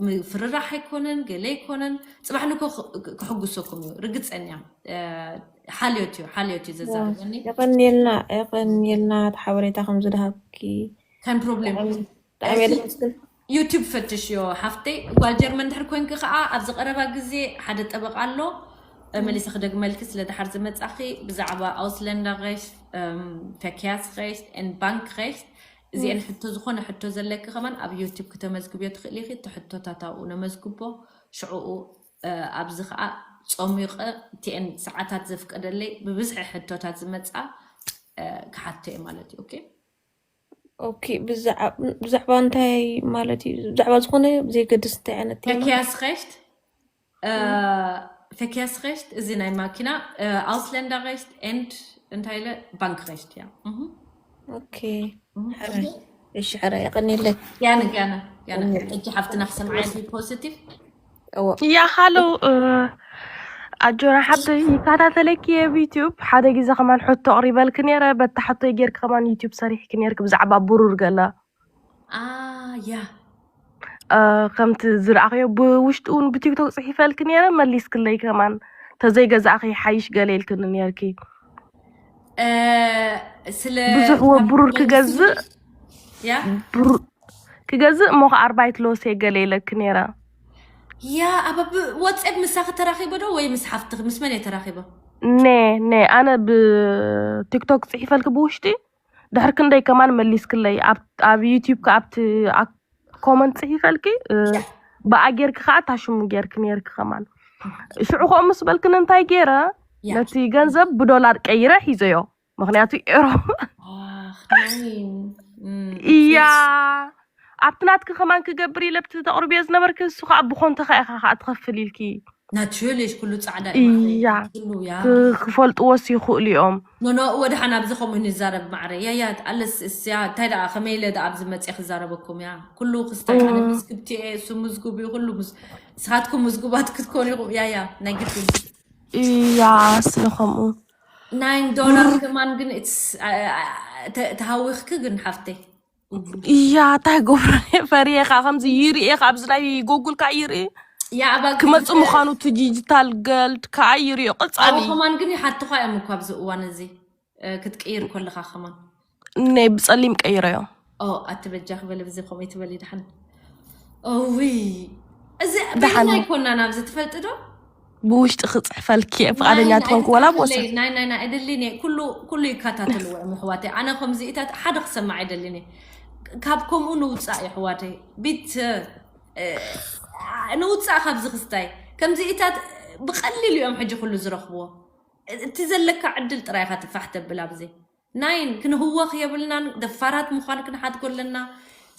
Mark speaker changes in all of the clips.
Speaker 1: ምፍርራሕ ኣይኮነን ገለ ኣይኮነን ፅባሕ ንግሆ ክሕጉሰኩም እዩ ርግፀኛ ሓልዮት እዩ ሓልዮት እዩ ዘዛርበኒ የቐንየልና
Speaker 2: የቐንየልና እቲ ሓበሬታ ከም ዝድሃብኪ ከም ፕሮብሌም
Speaker 1: ብጣዕሚ እየ ደመስግን
Speaker 2: ዩቱብ ፈትሽዮ
Speaker 1: ሓፍተይ ጓል ጀርመን ድሕር ኮንኪ ከዓ ኣብዚ ቀረባ ግዜ ሓደ ጠበቃ ኣሎ መሊሰ ክደግመልኪ ስለ ድሓር ዝመፃኺ ብዛዕባ ኣውስለንዳ ሬሽት ፈኪያስ ሬሽት ን ባንክ ሬሽት እዚኤን ሕቶ ዝኾነ ሕቶ ዘለኪ ከማን ኣብ ዮቲብ ክተመዝግብዮ ትኽእሊ ኢኺ እቲ ሕቶታት ኣብኡ ነመዝግቦ ሽዕኡ ኣብዚ ከኣ ጾሚቀ እቲኤን ሰዓታት ዘፍቀደለይ ብብዝሒ ሕቶታት ዝመጻ ክሓቶ እየ ማለት እዩ ኦኬ
Speaker 2: ኦኬ ብዛዕባ እንታይ ማለት እዩ ብዛዕባ ዝኾነ ዘይገድስ እንታይ ዓይነት ቴማ ተኪያስ ኸሽት
Speaker 1: ፌኬርስሬሽት እዚ ናይ ማኪና ኣውስለንዳሬሽት ኤንድ እንታይ ኢለ
Speaker 2: ባንክሬሽት
Speaker 1: እያ ሽሕራ የቀኒለይ ያነ ያነ
Speaker 3: ያነ እጅ ሓፍትና ክሰምዓያ ፖዚቲቭ ያ ሃሎ ኣጆና ሓብተይ ይከታተለኪ እየ ብዩትዩብ ሓደ ግዜ ከማን ሕቶ ኣቕሪበልኪ ነይረ በታ ሕቶይ ጌርኪ ከማን ዩትዩብ ሰሪሕኪ ነይርኪ ብዛዕባ ብሩር ገለ
Speaker 1: ኣያ
Speaker 3: ከምቲ ዝረኣኽዮ ብውሽጢ እውን ብቲክቶክ ጽሒፈልኪ ነይረ መሊስክለይ ከማን ተዘይገዛእኺ ይሓይሽ ገለ ኢልክኒ ነርኪ እ፣ ስለ ብዙሕ ካብ ወብሩር መልሲ ክገዝእ ያ
Speaker 1: ብሩ-
Speaker 3: ክገዝእ እሞ ከዓ ኣርባይት ሎሴ ገለ ኢለኪ ነይረ ያ
Speaker 1: ኣብ ወትሴፕ ምሳኺ ተራኺቦ ዶ ወይ ምስ ሓፍትኺ ምስ መን
Speaker 3: እየ ተራኺቦ ነ ነ ኣነ ብቲክቶክ ጽሒፈልኪ ብውሽጢ ድሕር ክንደይ ከማን መሊስክለይ ኣብ ኣብ ዩቲዩብ ከ ኣብቲ ኣብ ኮመንት ጽሒፈልኪ እ፣ ብኣ ጌርኪ ከዓ እታ ሽሙ ጌርኪ ነይርኪ ከማን ሽዑ ከምኡ ምስ በልክን እንታይ ገይረ ያ ነቲ ገንዘብ ብዶላር ቀይረ ሒዘዮ ምክንያቱ ኤሮ ኣኽ ናይ እም፣ እያ ፊልስ ኣብቲ ናትኪ ከማን ክገብር ኢለ ኣብቲ ተቅርብዮ ዝነበርኪ ንሱ ከኣ ብኮንተካ ኢካ ከኣ ትከፍል ኢልኪ። ናትርሊሽ ኩሉ
Speaker 1: ጻዕዳ ዩ ማዓረይ
Speaker 3: እያ ኩሉ ያ ብ ክፈልጥዎስ ይክእሉ እዮም። ኖኖ እወ ደሓን ኣብዚ
Speaker 1: ከምኡ ንዛረብ ማዓረይ ያያ ኣለስ እስያ እንታይ ደኣ ከመይ ኢለ ደኣ ኣብዚ መጽየ ክዛረበኩም እያ ኩሉ ክስታይ ኣነ መዝግብቲ እየ እሱ ምዝጉብ እዩ ኩሉ ንስካትኩም ምዝጉባት ክትኮኑ ኢኩም ያያ ናይ ግድን እያ
Speaker 3: ስለ ከምኡ ናይን ዶላር
Speaker 1: ብር ከማን ግን ኢትስ ተሃዊክኪ ግን ሓፍተይ። እያ
Speaker 3: እንታይ ገብሮ ፈርየኻ ከምዚ ይርኤ ካብዚ ናይ ጎጉል ከዓ ይርኤ ያ ኣባ ግን
Speaker 1: ክመፅ ምዃኑ እቲ
Speaker 3: ዲጂታል ገልድ ከዓ ይርዮ ኣብኡ ቀፃሊ ከማን ግን ይሓትኻ
Speaker 1: እዮም እኮ ኣብዚ እዋን እዚ እ፣ ክትቅይር ከለኻ ከማን ናይ ብፀሊም
Speaker 3: ቀይረዮ ኦ ኣቲ በጃኺ
Speaker 1: በለ ብዚ ከምኡ ትበሊ ድሓን እውይ እዚ በይንና ደሓን ኣይኮናን ኣብዚ ትፈልጢ ዶ ብውሽጢ
Speaker 3: ክፅሕፈልኪ እየ ፍቃደኛ ትኾንኩ ወላ ብወሰ ናይ ናይ ናይ ኣይደሊን እየ
Speaker 1: ኩሉ ኩሉ ይከታተልዎ እዮም ኣሕዋተይ ኣነ ከምዚኢታት ሓደ ክሰማዕ ኣይደሊን እየ ካብ ከምኡ ንውፃእ እዩ ኣሕዋተይ ቢት ንውፃእ ካብዚ ክስታይ ከምዚኢታት ብቀሊሉ እዮም ሕጂ ኩሉ ዝረኽብዎ እቲ ዘለካ ዕድል ጥራይ ኢኻ ትፋሕ ተብል ኣብዚ ናይን ክንህወኽ የብልናን ደፋራት ምዃን ክንሓድጎ ኣለና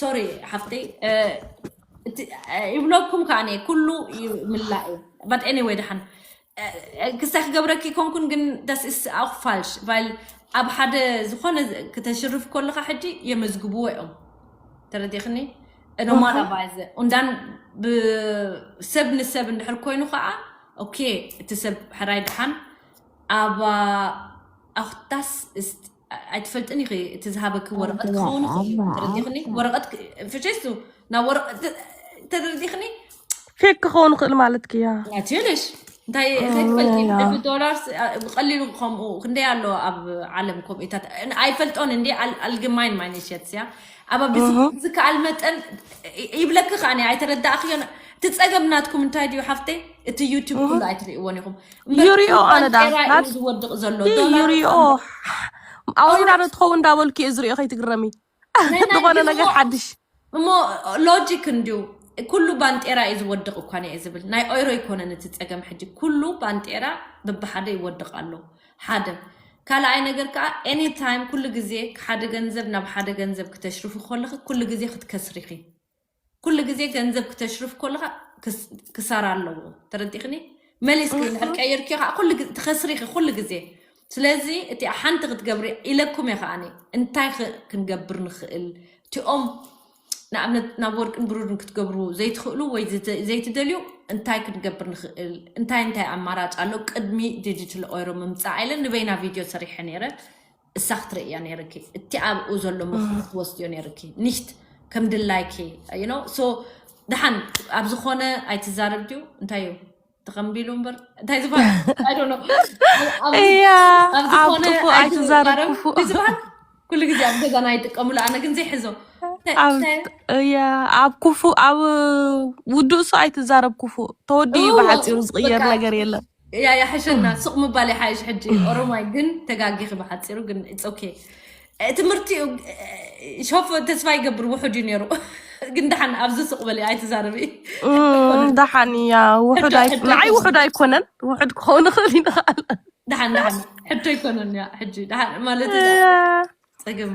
Speaker 1: ሶሪ ሓፍተይ ይብለኩም ከዓ እኔ ኩሉ ይምላእ እዩ በት ኤኒወይ ድሓን ክሳይ ክገብረኪ ኮንኩን ግን ዳስ ኢስ ኣው ፋልሽ ቫይል ኣብ ሓደ ዝኾነ ክተሽርፍ ከለካ ሕጂ የመዝግብዎ እዮም ተረዲኽኒ ኖማላቫይዘ እንዳን ብሰብ ንሰብ እንድሕር ኮይኑ ከዓ ኦኬ እቲ ሰብ ሕራይ ድሓን ኣብ ኣክታስ እስት ኣይትፈልጥን ኢኺ እቲ ዝሃበኪ ወረቐት ክኸውን ይኽእል እዩ ኣባ ተረዲኽኒ ኣታ ወረቐት ፍቼሱ ናብ ወረቐት ተረዲኽኒ ፌክ
Speaker 3: ክኸውን ይኽእል ማለትኪ እያ ናትዩልሽ
Speaker 1: እንታይ እንታይ ትፈልጢ እያ ብሕልፊ ዶላር ብቐሊሉ ከምኡ ክንደይ ኣሎ ኣብ ዓለም ኮምኢታት ኣይፈልጦን እንዲ ኣልግማይን ማይነሸት እያ ኣባ ብዝ እህ ዝከኣል መጠን ይ- ይብለኪ ከኣ እኔ ኣይተረዳእኽዮን እቲ ጸገም ናትኩም እንታይ ድዩ ሓፍተይ እቲ ዩቱብ እህ ኩሉ ኣይትርእይዎን ኢኹም ይሪኦ ኣነ
Speaker 3: ዳ ጤራዩ ዝወድቕ ዘሎ ይህ ዶላር
Speaker 1: ይሪኦ
Speaker 3: ኣውሪዳ ዶ ትኸውን እንዳበልኩ እየ ዝሪኦ ከይትግረሚ ናይ ናይ ዝኾነ ግን ነገር እሞ- ሓድሽ እሞ
Speaker 1: ሎጂክ እንድዩ ኩሉ ባንጤራ እዩ ዝወድቕ እኳ እየ ዝብል ናይ ኦይሮ ኣይኮነን እቲ ፀገም ሕጂ ኩሉ ባንጤራ ብብሓደ ይወድቕ ኣሎ ሓደ ካልኣይ ነገር ከዓ ኤኒ ታይም ኩሉ ግዜ ሓደ ገንዘብ ናብ ሓደ ገንዘብ ክተሽርፉ ከለኺ ኩሉ ግዜ ክትከስሪኺ ኩሉ ግዜ ገንዘብ ክተሽርፍ ኮለኻ ክሳራ ኣለዎ ተረዲኽኒ መሊስኪ እንድሕር ቀይርኪ ከዓ ኩሉ ግዜ ትኸስሪኺ ኩሉ ግዜ ስለዚ እቲ ሓንቲ ክትገብሪ ኢለኩም እየ ከዓ እንታይ ኽ- ክንገብር ንኽእል እቲኦም ንኣብነት ናብ ወርቅን ብሩርን ክትገብሩ ዘይትኽእሉ ወይ ዝተ- ዘይትደልዩ እንታይ ክንገብር ንኽእል እንታይ እንታይ ኣማራጭ ኣሎ ቅድሚ ዲጂታል ኦይሮ ምምፃእ ኢለ ንበይና ቪድዮ ሰሪሐ ነይረ እሳ ክትርእዮ ነይርኪ እቲ ኣብኡ ዘሎ ምኽሪ ክትወስድዮ ነይርኪ ኒሽት ከም ድላይኪ ዩኖ ሶ ድሓን ኣብ ዝኾነ ኣይትዛረብ ድዩ እንታይ እዩ ተኸምቢሉ እምበር እንታይ ዝበሃል ኣይዶኖ እያ
Speaker 3: ኣብ ኣብ ዝኾነ
Speaker 1: ጥፉእ ኣይትዛረብ
Speaker 3: ኣይትዛረብ ክፉእ እንታይ
Speaker 1: ዝበሃል
Speaker 3: ኩሉ
Speaker 1: ግዜ ኣብ ገዛና ይጥቀሙሉ ኣነ ግን ዘይሕዞ እንታይ ኣብ እንታይ
Speaker 3: እያ ኣብ ክፉእ ኣብ ውዱእ ሰው ኣይትዛረብ ክፉእ ተወዲኡ እዩ እወ ብሓፂሩ ዝቕየር በቃ ነገር የለን እያ ያሕሸና
Speaker 1: ሱቅ ምባል ይሓይሽ ሕጂ ኦሮማይ ግን ተጋጊኺ ብሓፂሩ ግን ኦኬ ትምህርቲ እዩ ሾፍ ተስፋ ይገብር ውሑድ እዩ ነይሩ ግን ደሓን ኣብዚ ሱቅ በሊ ኣይትዛረቢ ደሓን
Speaker 3: እያ ውሑድ ኣይ- ንዓይ ውሑድ ኣይኮነን ውሑድ ክኸውን ይኽእል ይንኽኣል ደሓን ደሓን
Speaker 1: ሕቶ ኣይኮነን እያ ሕጂ ደሓን ማለት እዩ። ፅግም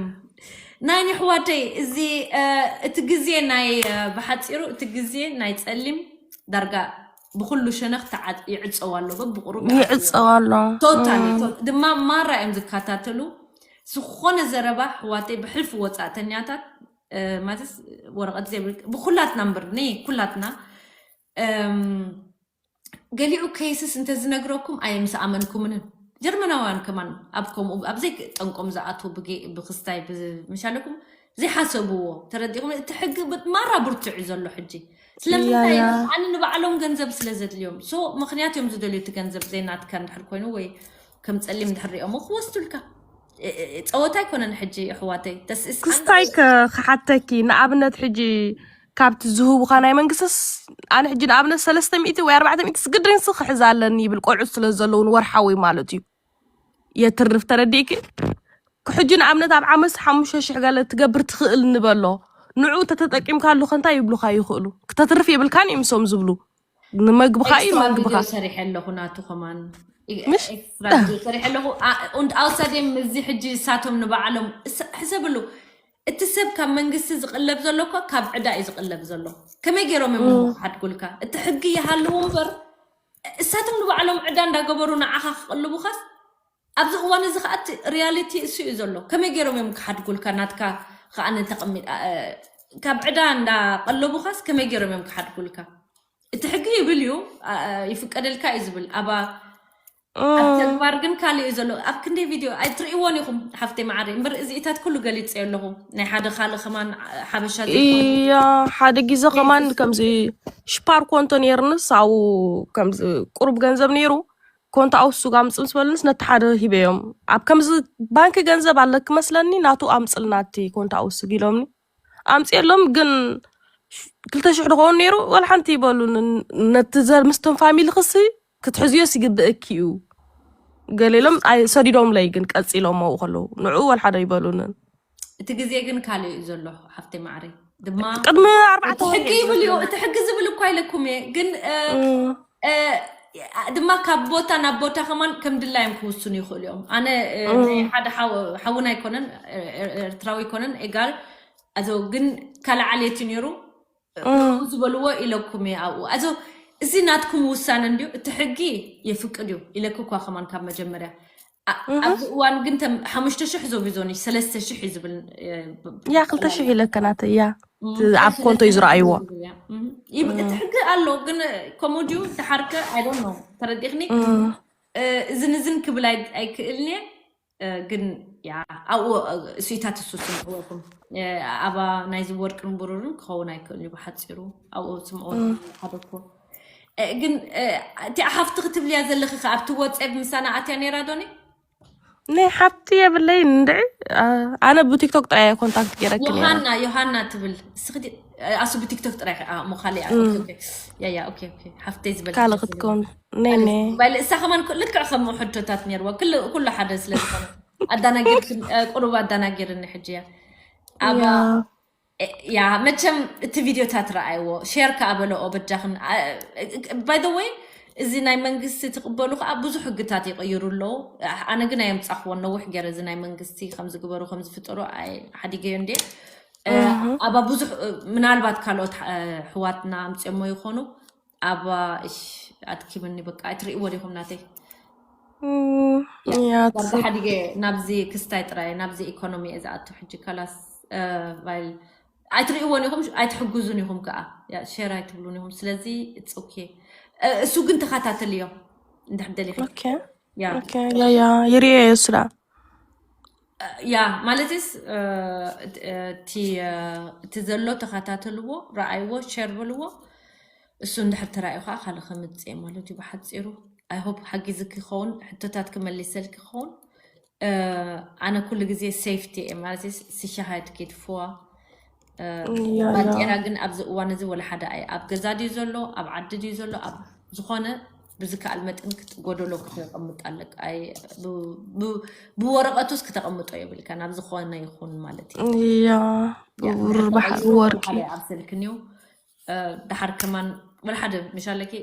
Speaker 1: ናይ የሕዋተይ እዚ እ፣ እቲ ግዜ ናይ እ፣ ብሓጺሩ እቲ ግዜ ናይ ጸሊም ዳርጋ ብኩሉ ሸነኽ ተዓ- ይዕጸው ኣሎ በብቁሩብ ይኣትው ኣሎ
Speaker 3: ይዕጸው ኣሎ ቶታሊ እም፣ ቶ- ድማ
Speaker 1: ማራ እዮም ዝከታተሉ ዝኾነ ዘረባ ኣሕዋተይ ብሕልፊ ወጻእተኛታት እ፣ ማለት ወረቐት ዘይብል ብኩላትና እምበር ነይ ኩላትና እም፣ ገሊኡ ከይስስ እንተዝነግረኩም ኣየ ምስ ኣመንኩምንን ጀርመናውያን ከማን ኣብ ከምኡ ኣብ ዘይጠንቆም ዝኣትዉ ብጌ- ብክስታይ ብ- ምሻለኩም ዘይሓሰብዎ ተረዲኹም እቲ ሕጊ ብ- ማራ ብርቱዕ እዩ ዘሎ ሕጂ ስለምንታይ ያያ እዮም ኣነ ንባዕሎም ገንዘብ ስለ ዘድልዮም ሶ ምክንያት እዮም ዝደልዩ እቲ ገንዘብ ዘይናትካ እንድሕር ኮይኑ ወይ ከም ጸሊም እንድሕር ሪኦሞ ክወስዱልካ እ- እ- ጸወታ ኣይኮነን ሕጂ ኣሕዋተይ ተስእስ ኣንድ ክስታይ ከ
Speaker 3: ክሓተኪ ንኣብነት ሕጂ ካብቲ ዝህቡኻ ናይ መንግስትስ ኣነ ሕጂ ንኣብነት ሰለስተ ሚእቲ ወይ ኣርባዕተ ሚእቲ ስግድንሲ ክሕዝ ኣለኒ ይብል ቆልዑት ስለ ዘለውን ወርሓዊ ማለት እዩ የትርፍ ተረዲእኪ ሕጂ ንኣብነት ኣብ ዓመት ሓሙሽተ ሽሕ ገለ ትገብር ትኽእል ንበሎ ንዑ ተተጠቂምካሉ ከንታይ ይብሉካ ይኽእሉ ክተትርፍ የብልካን እዮም እሶም ዝብሉ ንመግብኻ እዩ ኤክስትራ ቪድዮ መግብኻ ሰሪሐ ኣለኹ ናቱ
Speaker 1: ከማን ምሽ ኤክስትራ
Speaker 3: ቪድዮ ሰሪሐ
Speaker 1: ኣለኹ ኣ- und außerdem እዚ ሕጂ እሳቶም ንባዕሎም እስ- ሕሰብሉ እቲ ሰብ ካብ መንግስቲ ዝቕለብ ዘሎ እኮ ካብ ዕዳ እዩ ዝቕለብ ዘሎ ከመይ ገይሮም እዮም እሞ ክሓድጉልካ እቲ ሕጊ ይሃልዉ እምበር እሳቶም ንባዕሎም ዕዳ እንዳገበሩ ንዓኻ ክቕልቡኻስ ኣብዚ እዋን እዚ ከኣ እቲ ሪያሊቲ እሱ እዩ ዘሎ ከመይ ገይሮም እዮም ክሓድጉልካ ናትካ ከኣ ተቐሚ ካብ ዕዳ እንዳ ቀለቡኻስ ከመይ ገይሮም እዮም ክሓድጉልካ እቲ ሕጊ ይብል እዩ ይፍቀደልካ እዩ ዝብል ኣባ ኣብ ተግባር ግን ካልእ እዩ ዘሎ ኣብ ክንደይ ቪድዮ ኣይትርእይዎን ኢኹም ሓፍተይ መዓረይ እምበር እዚኢታት ኩሉ ገሊፀ ኣለኹ ናይ ሓደ ካልእ ከማን ሓበሻ እያ
Speaker 3: ሓደ ግዜ ከማን ከምዚ ሽፓር ኮንቶ ነይርንስ ኣብኡ ከምዚ ቁሩብ ገንዘብ ነይሩ ኮንታ ኣውሱግ ኣምፅ ምስ በሉንስ ነቲ ሓደ ሂበዮም ኣብ ከምዚ ባንኪ ገንዘብ ኣለኪ መስለኒ ናቱ ኣምፅልና እቲ ኮንታ ኣውሱግ ኢሎምኒ ኣምፅኤሎም ግን ክልተ ሽሕ ድኸውን ነይሩ ወላ ሓንቲ ይበሉን ነቲ ዘር ምስቶም ፋሚሊ ክሲ ክትሕዝዮስ ይግብእኪ እዩ ገሌሎም ኣይ- ሰዲዶምለይ ግን ቀፂሎም ኣብኡ ከለዉ ንዕኡ ወላ ሓደ ይበሉንን እቲ ግዜ
Speaker 1: ግን ካልእ እዩ ዘሎ ሓፍተይ ማዕረይ ድማ ቅድሚ ኣርባዕተ እቲ
Speaker 3: ወርሒ ሕጊ እዩ ይብል እዩ ዘለና እቲ
Speaker 1: ሕጊ ዝብል እኳ ኢለኩም እየ ግን እ፣ እም፣ እ፣ ድማ ካብ ቦታ ናብ ቦታ ከማን ከም ድላዮም ክውስኑ ይኽእሉ እዮም ኣነ እ፣ ናይ እም፣ ሓደ ሓው- ሓውና ኣይኮነን እ፣ እ፣ ኤርትራዊ ኣይኮነን ኤጋር ኣቶ ግን ካልእ ዓሌት እዩ ነይሩ ንዑ ዝበልዎ ኢለኩም እየ ኣብኡ ኣዞ እዚ ናትኩም ውሳነ እንድዩ እቲ ሕጊ የፍቅድ እዩ ኢለክ እኳ ከማን ካብ መጀመርያ ኣ- ኣብዚ እዋን ግን ተም ሓሙሽተ ሽሕ ዞቢዞኒ ሰለስተ ሽሕ እዩ ዝብል እ፣ ብ- ብ- ያ ክልተ
Speaker 3: ጠቕላላ ሽሕ ኢለካ ናተይ እያ እም፣ እቲ ኣብ ኮንቶ እዩ ሰለስተ ሽሕ እዩ ዝረኣይዎ ዝብል እያ እም፣ ይብ- እቲ
Speaker 1: ሕጊ ኣሎ ግን ከምኡ ድዩ ድሓርከ ኣይዶን ነው ተረዲኽኒ እም፣ እ፣ እዝን እዝን ክብል ኣይ- ኣይክእልን እየ ግን ኣብኡ ስኢታት እሱ ስምዕዎኩም ኣባ ናይዚ ወርቅን ብሩርን ክኸውን ኣይክእል እዩ ብሓፂሩ ኣብኡ ስምዕዎ ሓደኮ ግን እቲ ሓፍቲ ክትብልያ ዘለኺ ከ ኣብቲ ወፀብ ምሳና ኣትያ ነይራ ዶኒ ናይ
Speaker 3: ሓፍቲ የብለይ እንድዒ ኣነ ብቲክቶክ ጥራይ እየ ኮንታክት ገይረኪ ነይረ ዮሃና ዮሃና
Speaker 1: ትብል እስኺ ኣሱ ብቲክቶክ ጥራይ እሞ ካልእ እያ ኦኬ፣ ኦኬ። ያ ያ ኦኬ ኦኬ ሓፍተይ ዝበልኪ ካልእ ክትከውን
Speaker 3: ንሳ ከማን
Speaker 1: ልክዕ ከም ሕቶታት ነርዎ ኩሉ ሓደ ስለ ዝኾነ ኣዳናጊር ቁሩብ ኣዳናጊርኒ ሕጂ እያ ኣብ ያ መቸም እቲ ቪድዮታት ረኣይዎ ሼር ከዓ በለኦ በጃኽን ባይ ዘ ወይ እዚ ናይ መንግስቲ ትቕበሉ ከዓ ብዙሕ ሕግታት ይቕይሩ ኣለዉ ኣነ ግን ኣየምፃኽዎ ነዊሕ ገይረ እዚ ናይ መንግስቲ ከምዝግበሩ ከምዝፍጠሩ ሓዲገዮ እንዴ ኣባ ብዙሕ ምናልባት ካልኦት ሕዋትና ኣምፅኦሞ ይኾኑ ኣባ እሽ ኣድኪምኒ በቃ ኣይትርእይዎ ዲኹም ናተይ ዳርጋ
Speaker 3: ሓዲገ
Speaker 1: ናብዚ ክስታይ ጥራይ ናብዚ ኢኮኖሚ እየ ዝኣቱ ሕጂ ከላስ ቫይል ኣይትርእይዎን ኢኹም ኣይትሕግዙን ኢኹም ከዓ ሸር ኣይትብሉን ኢኹም ስለዚ ኢትስ ኦኬ እሱ ግን ተኸታተልዮ እንድሕር ደሊኺ
Speaker 3: ኦኬ
Speaker 1: ያ ኦኬ
Speaker 3: ያ ያ
Speaker 1: ይርኤ
Speaker 3: እሱ ደኣ
Speaker 1: ያ ማለትስ እቲ እቲ ዘሎ ተኸታተልዎ ረኣይዎ ሸር በልዎ እሱ እንድሕር ተራእዩ ከዓ ካልእ ከምፅእ እየ ማለት እዩ ብሓፂሩ ኣይሆፕ ሓጊዝክ ይኸውን ሕቶታት ክመልሰልክ ይኸውን እ፣ ኣነ ኩሉ ግዜ ሴፍቲ እየ ማለት ስሸሃት ኬትፍዋ
Speaker 3: ባጤራ ግን
Speaker 1: ኣብዚ እዋን
Speaker 3: እዚ
Speaker 1: ወላ ሓደ ኣይ ኣብ ገዛ ድዩ ዘሎ ኣብ ዓዲ ድዩ ዘሎ ኣብ ዝኾነ ብዝከኣል መጠን ጎደሎ ክተቐምጥ ኣለካ ብወረቐቱስ ክተቐምጦ የብልካ ናብ ዝኾነ ይኹን ማለት እዩ
Speaker 3: ያ
Speaker 1: ብባሕሪ
Speaker 3: ወርቂ ኣብ
Speaker 1: ስልክን
Speaker 3: እዩ
Speaker 1: ደሓር ከማን ወላ ሓደ መሻለኪ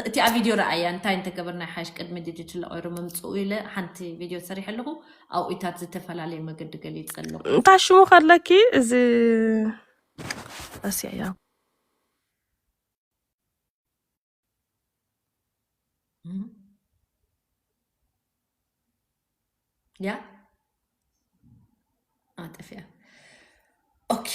Speaker 1: እቲኣ ቪድዮ ረኣያ እንታይ እንተገበርና ሓሽ ቅድሚ ድጅ ትለቀሩ ምምፅኡ ኢለ ሓንቲ ቪድዮ ሰሪሐ ኣለኹ ኣብኡታት ዝተፈላለየ መገዲ ገሊፀ ኣለኹ እንታይ ሽሙ ከለኪ
Speaker 3: እዚ ረሲዐያ
Speaker 1: ያ ኣጠፊያ ኦኬ